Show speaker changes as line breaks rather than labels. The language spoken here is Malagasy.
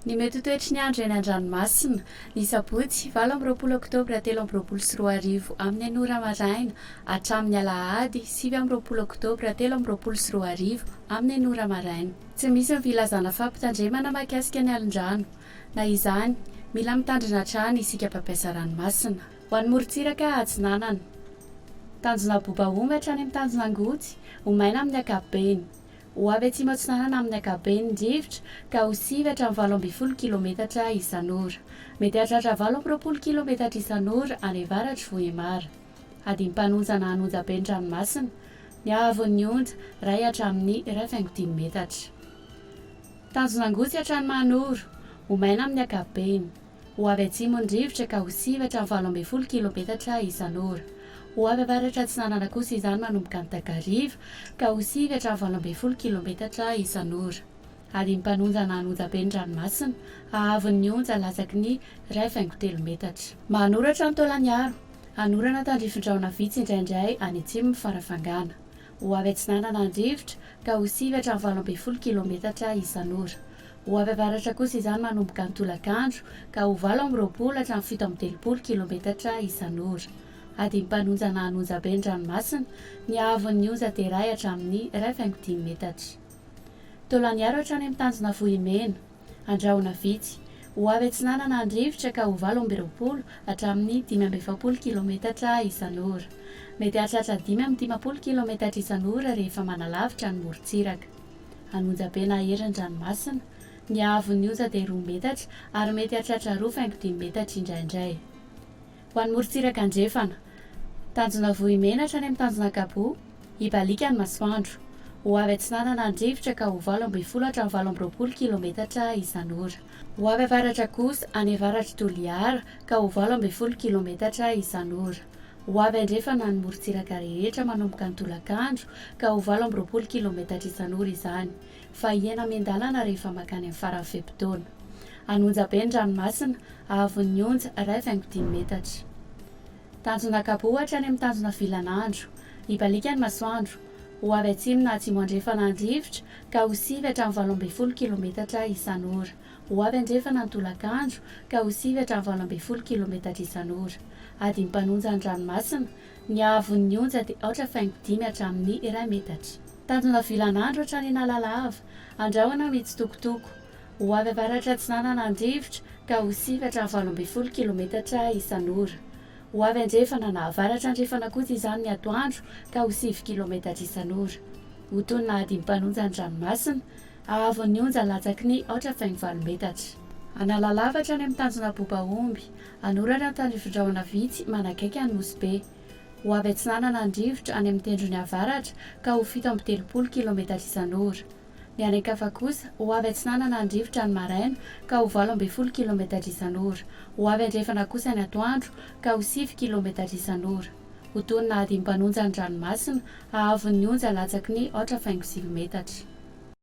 Ny mety ho toetry ny andro eny an-dranomasina. Ny sabotsy, valo amby roapolo oktobra telo amby roapolo sy roa arivo, amin'ny enina ora maraina, hatramin'ny alahady, sivy amby roapolo oktobra telo amby roapolo sy roa arivo, amin'ny enina ora maraina. Tsy misy ny filazana fampitandremana mahakasika ny alin-drano. Na izany, mila mitandrina hatrany isika mpampiasa ranomasina. Ho an'ny morontsiraka atsinanana. Tanjona Bobaonga hatrany amin'ny tanjona Angotsy ho maina amin'ny ankapobeny. Ho avy atsimo atsinanana amin'ny ankapobeny ny rivotra ka ho sivy hatramin'ny valo ambin'ny folo kilometatra isan'ora. Mety hahatratra valo amby roapolo kilometatra isan'ora any avaratr'i Vohemar. Hadino mpanonja na hanonja be ny ranomasina. Ny haavon'ny onja, iray hatramin'ny iray faingo dimy metatra. Tanjona Angotsy hatrany Mahanoro. Ho maina amin'ny ankapobeny. Ho avy atsimo ny rivotra ka ho siva hatramin'ny valo ambin'ny folo kilometatra isan'ora. Ho avy avaratr'atsinanana kosa izany manomboka any takariva ka ho sivy hatramin'ny valo ambin'ny folo kilometatra isan'ora. Adin'ny mpanonjana ny onjabe ny ranomasina, haavon'ny ny onja latsaky ny iray faingo telo metatra. Manoratra ny taolan'ny aro. Hanorana tandrifin-drahona vitsy indraindray any atsimo ny farafangana. ho avy atsinanana an-drivotra ka ho sivy hatramin'ny valo ambin'ny folo kilaometatra isan'ora. Ho avy avaratra kosa izany manomboka ny tolakandro ka ho valo amby roapolo hatramin'ny fito amby telopolo kilaometatra isan'ora. Adim-panonjana an'onja be ny ranomasina, ny haavon'ny onja derahy hatramin'ny iray faingo dimy metatra. Taolan'iaro hatrany amin'ny tanjona vohimena. Andrahona vitsy. Ho avy atsinanana andrivotra ka ho valo amby roapolo hatramin'ny dimy amby efapolo kilaometatra isan'ora. Mety hahatratra dimy amby dimampolo kilaometatra isan'ora rehefa manalavitra ny morontsiraka. An'onjabe na herin-dranomasina. Ny haavon'ny onja dia roa metatra ary mety hahatratra roa faingo dimy metatra indraindray. Ho an'ny morontsiraka andrefana. Tanjona Vohimenatra any amin'ny tanjona Gabo, hibaliaka ny masoandro. Ho avy atsinanana ny rivotra ka ho valo ambin'ny folo hatramin'ny valo amby roapolo kilometatra isan'ora. Ho avy avaratra kosa, any avaratr'i Toliara, ka ho valo ambin'ny folo kilometatra isan'ora. Ho avy andrefana ny morontsiraka rehetra manomboka ny tolakandro ka ho valo amby roapolo kilometatra isan'ora izany. fa hihena miandalana rehefa mankany amin'ny faran'ny fe-potoana. Hanonja be ny ranomasina, hahavon'ny onja iray faingo dimy metatra. Tanjona kabo ohatra any amin'ny tanjona vilan'andro. Hibaliaka ny masoandro, ho avy atsimo na atsimo andrefana ny rivotra, ka ho sivy hatramin'ny valo ambin'ny folo kilometatra isan'ora. Ho avy andrefana ny tolakandro, ka ho sivy hatramin'ny valo ambin'ny folo kilometatra isan'ora. Adin'ny mpanonja ny ranomasina, Ny haavon'ny onja dia aotra faingo dimy hatramin'ny iray metatra. Tanjona vilan'andro hatrany Analalava. Andrahona mitsitokotoko. Ho avy avaratra atsinanana andrivotra ka ho sivatra valo ambin'ny folo kilometatra isan'ora. Ho avy andrefana na avaratra andrefana kosa izany ny atoandro ka ho sivy kilometatra isan'ora. Ho tonina hadim-panonja ny ranomasina. Haavon'ny onja latsaky ny aotra faingo valo metatra. Analalava hatrany amin'ny tanjona Bobaomby. Anorary an-tanifindrahona vitsy manakaiky an'i Nosy Be. Ho avy atsinanana ny rivotra any amin'ny tendrony avaratra ka ho fito amby telopolo kilaometatra isan'ora. Ny any an-kafa kosa, ho avy atsinanana ny rivotra ny maraina ka ho valo ambin'ny folo kilaometatra isan'ora. Ho avy andrefana kosa ny atoandro ka ho sivy kilaometatra isan'ora. Ho toy ny nahadimim-panonja ny ranomasina, hahavon'ny onja latsaky ny aotra faingo sivy metatra.